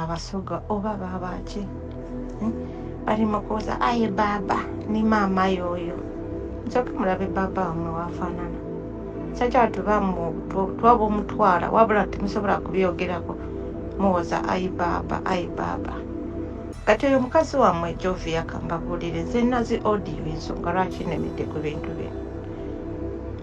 abasoga oba babaki hmm? bali mukuuza aye baaba ni maama yoyo nsoke mulabe baaba wamwe wafanana sakyatubamu twaba omutwala wabula temusobola kubyogerako muwoza ayi baaba ayi baaba kati oyo mukazi wamwe jovi yakambabulire nze nazi audio ensonga lwaki nemidde ku bintu bino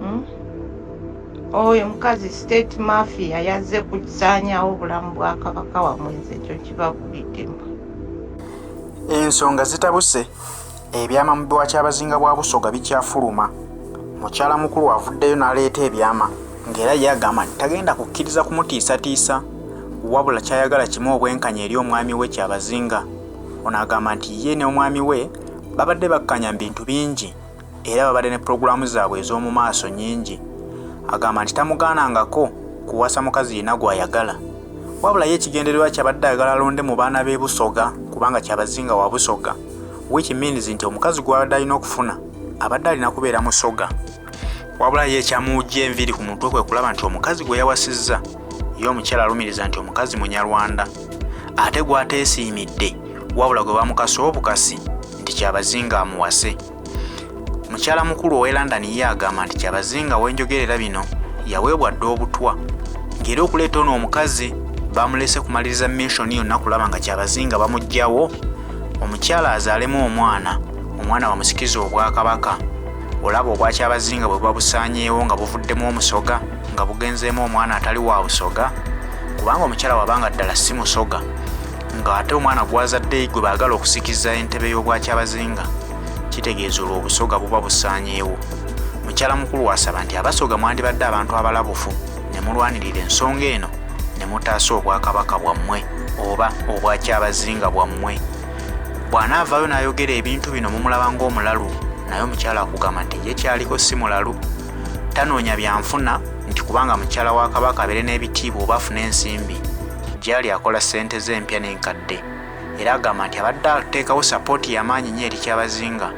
hmm? oyo mukazi state mafia yazze kukisaanyawo obulamu bwa kabaka wamwenzi ekyo kibabuliddemu ensonga zitabuse ebyama mu biwa kyabazinga bwa busoga bikyafuluma mukyala mukulu avuddeyo n'aleeta ebyama ng'era ye agamba nti tagenda kukkiriza kumutiisatiisa wabula kyayagala kimu obwenkanya eri omwami we kyabazinga ono agamba nti ye ne omwami we babadde bakkanya mu bintu bingi era babadde ne pulogulaamu zaabwe ez'omu maaso nnyingi. Agamba nti tamugaanangako kuwasa mukazi yenna gw'ayagala. Wabula ye ekigendererwa kyabadde ayagala alonde mu baana b'e Busoga kubanga Kyabazinga wa Busoga, which means nti omukazi gw'abadde alina okufuna abadde alina kubeera Musoga. Wabula ye ekyamuwujja enviiri ku mutwe kwe kulaba nti omukazi gwe yawasizza ye omukyala alumiriza nti omukazi Munyarwanda ate gw'ateesiimidde wabula gwe bamukasa obukasi nti Kyabazinga amuwase. mukyala mukulu ow'e london ye agamba nti kyabazinga wenjogerera bino yaweebwa dda obutwa ngeri okuleeta ono omukazi bamulese kumaliriza missioni yonna kulaba nga kyabazinga bamugjawo omukyala azaalemu omwana omwana bamusikiza obwakabaka olaba obwakyabazinga bwe babusaanyeewo nga buvuddemu omusoga nga bugenzeemu omwana atali wa busoga kubanga omukyala wabanga ddala si musoga nga ate omwana gwazadde gwe baagala okusikiza entebe y'obwakyabazinga kitegeeza olwo obusoga buba busaanyeewo mukyala mukulu wasaba nti abasoga mwandibadde abantu abalabufu ne mulwanirira ensonga eno ne mutaasa obwakabaka bwammwe oba obwakyabazinga bwammwe bw'anaavaayo n'ayogera ebintu bino mumulaba ng'omulalu naye omukyala akugamba nti ye kyaliko si mulalu tanoonya byanfuna nti kubanga mukyala wa kabaka abeere n'ebitiibwa oba afune ensimbi gyali akola ssente ze empya n'enkadde era agamba nti abadde ateekawo sapooti y'amaanyi nnyo eri kyabazinga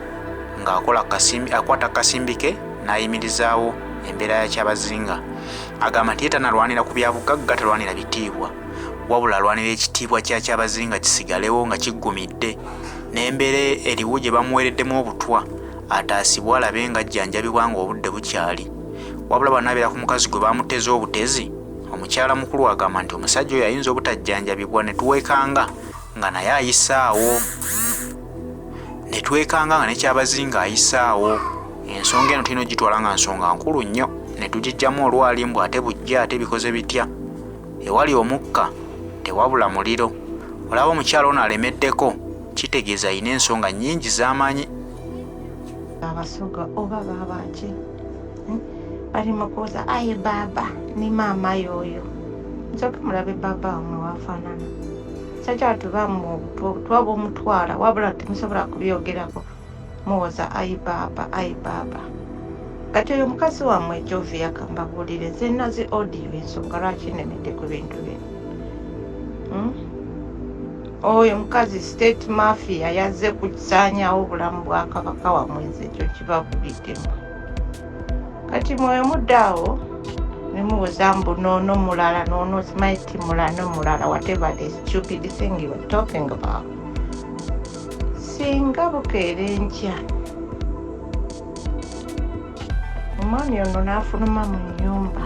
ng'akola akwata kasimbi ke n'ayimirizaawo embeera ya kyabazinga agamba nti ye tanalwanira ku byabugagga talwanira bitiibwa wabula alwanira ekitiibwa kya kyabazinga kisigalewo nga kiggumidde n'embeera eriwo gye bamuweereddemu obutwa ataasibwe alabe nga ajjanjabibwa ng'obudde bukyali wabula banabeera ku mukazi gwe baamuteeze obutezi omukyala mukulu agamba nti omusajja oyo ayinza obutajjanjabibwa ne tuweekanga nga naye ayisaawo ne twekanga nga nekyabazinga ayisaawo ensonga eno tulina ogitwala nga nsonga nkulu nnyo ne tugijjamu olwali mbu ate bujja ate bikoze bitya ewali omukka tewabula muliro olaba omukyala ono alemeddeko kitegeeza alina ensonga nnyingi z'amanyi abasoga oba baabaki bali mukuuza aye baaba ni maama yoyo nsoke mulabe baaba wamwe wafanana sakyatubamu obutu obutu obumutwala wabula temusobola kubyogerako muwoza ayi baaba ayi baaba kati oyo mukazi wamwe jovi yakamba bulire zenazi odiyo ensonga lwaki nemedde ku bintu bino hmm? oyo mukazi state mafia yazze kusanyawo obulamu bwa kabaka wamwezi ekyo kibavubiddemu kati mwoyo muddaawo nemubuza mbu noono mulala noono simanyi ti mulano mulala whatever the stupid thing you are talking about singa bukeera enkya omwami ono n'afuluma mu nnyumba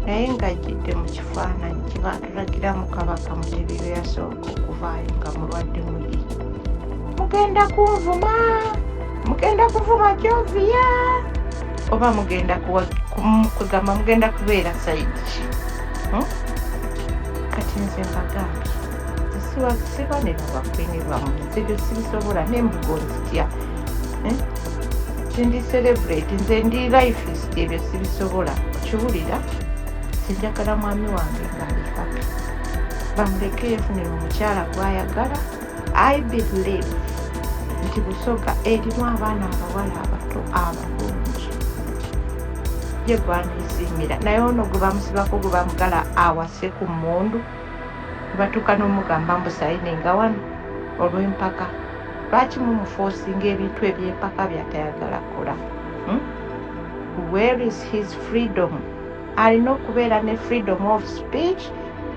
naye ng'ajjidde mu kifaananyi kye baatulagiramu kabaka mutebi lwe yasooka okuvaayo nga mulwadde muyi mugenda kunvuma mugenda kuvuma joviya oba mugenda kugamba mugenda kubeera sayidi hmm? kati nze mbagambye siba ne babakwini bamu nze byo sibisobola nembugo nzitya eh? nze ndi celebrate nze ndi lifist ebyo sibisobola okiwulira sinjagala mwami wange ngali happy bamuleke yefunira omukyala gwayagala i believe nti busoga erimu abaana abawala abato abalungi ye gwanesiimira naye ono gwe bamusibako gwe bamugala awase ku mundu Nebatuuka nomugamba mbu sayininga wano olwempaka lwaki mumufosinga ebintu ebyempaka byatayagala kola hmm? where is his freedom alina okubeera ne freedom of speech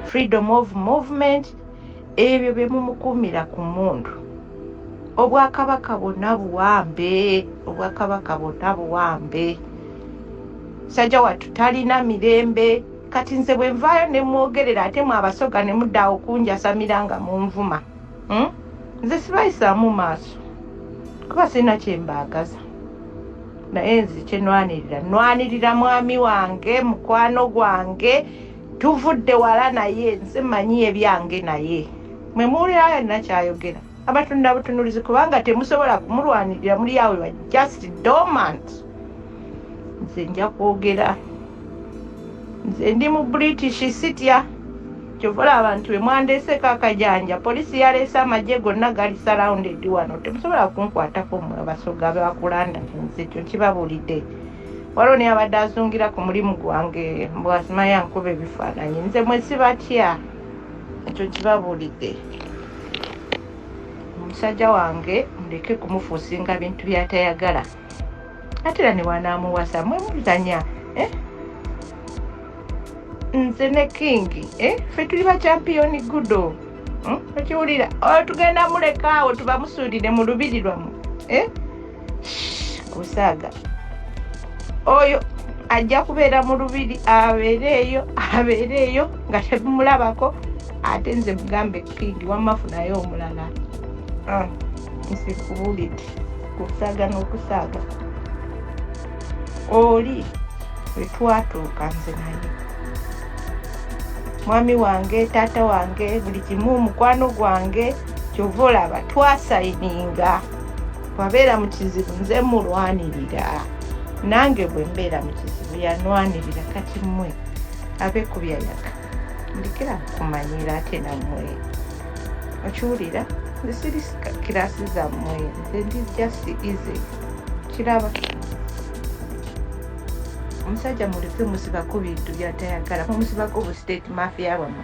freedom of movement ebyo byemumukuumira ku mundu obwakabaka bwonna buwambe obwakabaka bwonna buwambe sajja wattu talina mirembe Kati nze bwe nvaayo ne mwogerera ate mwe abasoga ne mudda awo kunjasamira nga munvuma hmm? nze sibayisaamu maaso kuba sirina kye mbaagaza naye nze kye nwanirira nwanirira mwami wange mukwano gwange tuvudde wala naye nze manyi ebyange naye mwe muwulira yonna kyayogera abatunula butunulizi kubanga temusobola kumulwanirira muli awe wa just dormant nze nja kwogera nze ndi mu british sitya kyovola abantu bemwandeseeko akajanja polisi yaleese amagye gonna gali surrounded wano temusobola kunkwatako mwe abasoga bakulanda nze ekyo nkibabuulidde waliwo naye abadde azungira ku mulimu gwange mbwasimayankuba ebifaananyi nze mwesibatya ekyo kibabuulidde omusajja wange muleke kumufuusinga bintu byatayagala ate era newanaamuwasa mwe mulitanya eh? nze ne kingi eh? fe tuli bakyampiyoni gudo hmm? okiwulira oh, tugenda mulekaawo tubamusuulire mu lubiri lwamu eh? omusaaga oyo ajja kubeera mu lubiri abeereeyo abeereeyo nga tebimulabako ate nze mugambe kindi wamafu naye omulala ah, nsi kubulidi kusaaga n'okusaaga oli wetwatuuka nze naye mwami wange taata wange buli kimu mukwano gwange kyova olaba twasayininga bwabeera mu kizibu nze mulwanirira nange bwe mbeera mu kizibu yanwanirira kati mmwe abe ku byayaga ndikira kumanyira ate nammwe okiwulira nze siri kirasi zammwe nze ndi just easy kiraba omusajja mulife musibako bintu byatayagala mumusibako bu state mafia bwamwe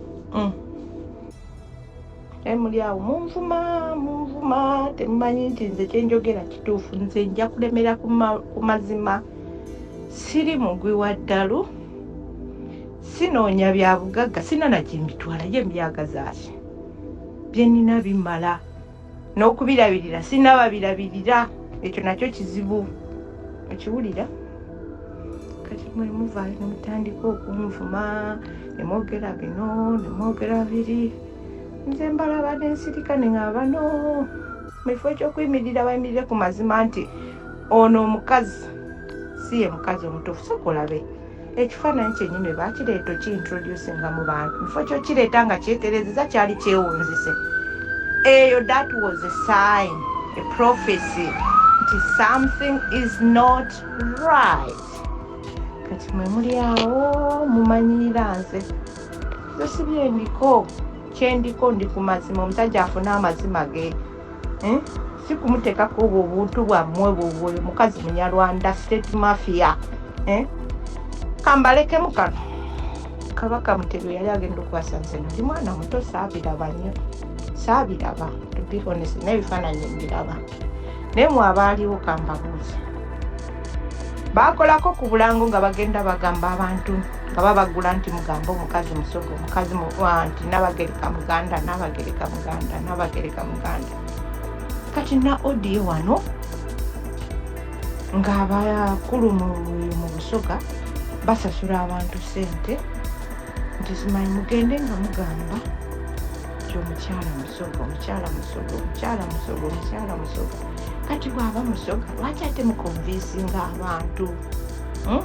mm. emuli eh, awo munvuma munvuma temumanyi nti nze kyenjogera kituufu nze nja kulemera ku mazima siri mugwi wa ddalu sinoonya bya bugagga sinana gye mbitwala gye mbyagazaaki bye nina bimala n'okubirabirira sirina babirabirira ekyo nakyo kizibu okiwulira kati mwe muvaayo ne mutandika okunvuma ne mwogera bino ne mwogera biri nze mbalaba ne nsirika ne nga bano mu kifo ekyokuyimirira bayimirire ku mazima nti ono omukazi si ye mukazi omutuufu soka olabe ekifaananyi kyenyini bwe bakireeta okiintroducinga mu bantu mufo kyokireeta nga kyeterezeza kyali kyewunzise eyo that was a sign a prophecy nti something is not right kati mwe muli awo mumanyiira nze zosibyendiko kyendiko ndi ku mazima omusajja afuna amazima ge hmm? si kumuteekako obwo obuntu bwammwe bwobwo oyo mukazi munyarwanda state mafia eh? kambalekemu kano kabaka mutebi yali agenda okukwasa nze ndi mwana muto saabiraba nnyo saabiraba tubihonese naye ebifaananyi mbiraba naye mwabaaliwo kambabuuzi baakolako ku bulango nga bagenda bagamba abantu nti nga babagula nti mugamba omukazi musogo mukazi muwa nti nabagereka muganda nabagereka muganda nabagereka muganda kati na odiyo wano ng'abakulu mu busoga basasula abantu sente nti simanyi mugende nga mugamba nti omukyala musoga omukyala musoga omukyala musoga omukyala musoga kati bwaba musoga lwaki ate mukonvinsinga abantu hmm?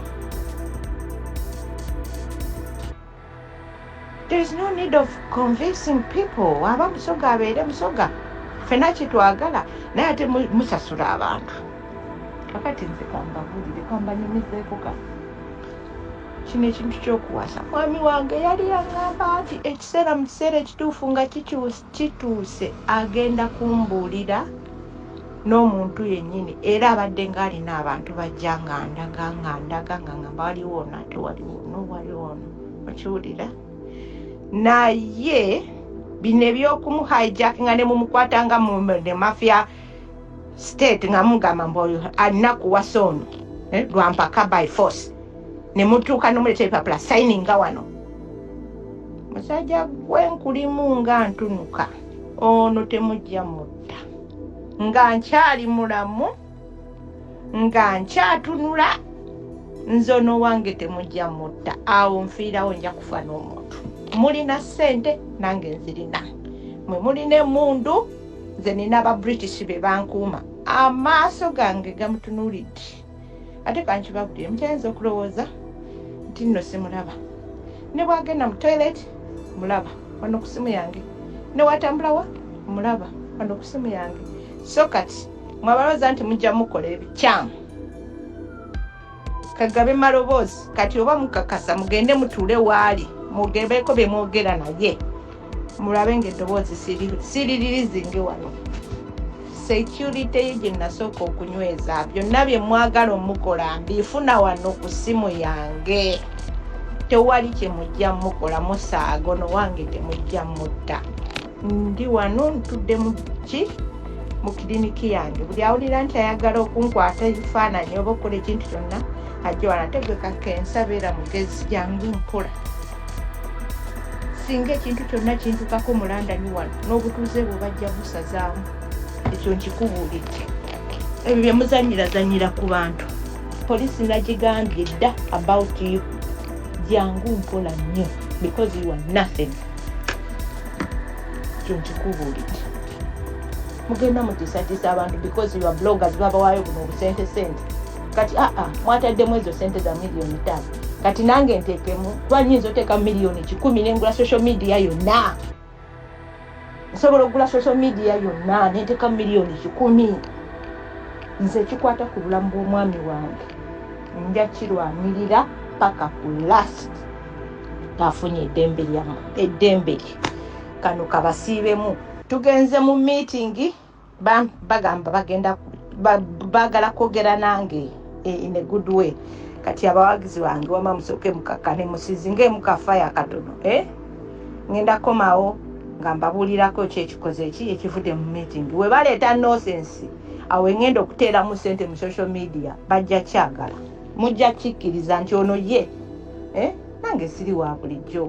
There is no need of convincing people waba musoga abeere musoga fena kyetwagala naye ate musasula abantu kakati nze kambabulire kambanyumizeeko ka kino ekintu kyokuwasa mwami wange yali yangamba nti ekiseera mu kiseera ekituufu nga kikyusa Kituuse agenda kumbuulira n'omuntu yennyini era abadde ng'alina abantu bajja ng'andaga ng'andaga nga ngamba waliwo ono ate waliwo ono waliwo ono okiwulira naye bino eby'okumuhijackinga ne mumukwata nga ne mafia state nga mugamba mbu oyo alina kuwasa ono eh, lwampaka by force ne mutuuka nomuleeta ebipapula sayininga wano musajja gwe nkulimu nga ntunuka ono temujja mutta nga nkyali mulamu nga nkyatunula nze ono wange temujja mutta awo nfiirawo nja kufa n'omuntu mulina ssente nange nzirina mwe mulina emundu nze nina aba british be bankuuma amaaso gange gamutunuulidde ate kankibabulire mukyayinza okulowooza nti nno simulaba ne bwagenda mu toilet mulaba wano ku simu yange ne watambulawa mulaba wano ku simu yange so kati mwabalooza nti mujja mukola ebikyamu kagabe maloboozi kati oba mukakasa mugende mutuule waali mugebeeko bye mwogera naye mulabe ngaeddoboozi siriririzinge wano security ye gye nasooka okunyweza byonna bye mwagala omukola mbifuna wano ku ssimu yange tewali kye mujja mukola musaago nowange temujja mutta ndi wano ntudde muki mu kiriniki yange buli awulira nti ayagala okunkwata ebifaananyi oba okukola ekintu kyonna ajja wano ate gwe kakensa beera mugezi jangu nkola singa ekintu kyonna kintukako mulandani wano n'obutuuze bwe bajja busazaamu ekyo nkikubuulidde ebyo bye muzanyirazanyira ku bantu poliisi nagigambye dda about you jangu mpola nnyo because you are nothing kyonkikubuulidde mugenda mutisatisa abantu because your bloggers babawaayo buno obusente sente kati aa ah, ah, mwataddemu ezo sente za miliyoni tano kati nange ntekemu kuba nyinza oteeka miliyoni kikumi nengula social media yonna nsobola okugula social media yonna nenteka miliyoni kikumi nze ekikwata ku bulamu bw'omwami wange nja kirwanirira paka ku last afunye eddembe lyamu eddembe lye kano kabasiibemu tugenze mu miitingi bagamba bagenda baagala kwogera nange eh, in a good way kati abawagizi bange wama musooke mukakkane musizinga emukafa yakatono eh? ngenda komawo nga mbabuulirako ki ekikoze ki ekivudde mu miitingi we baleeta nosensi awo engenda okuteeramu sente mu social media bajja kyagala mujja kikkiriza nti ono ye eh? nange siri wa bulijjo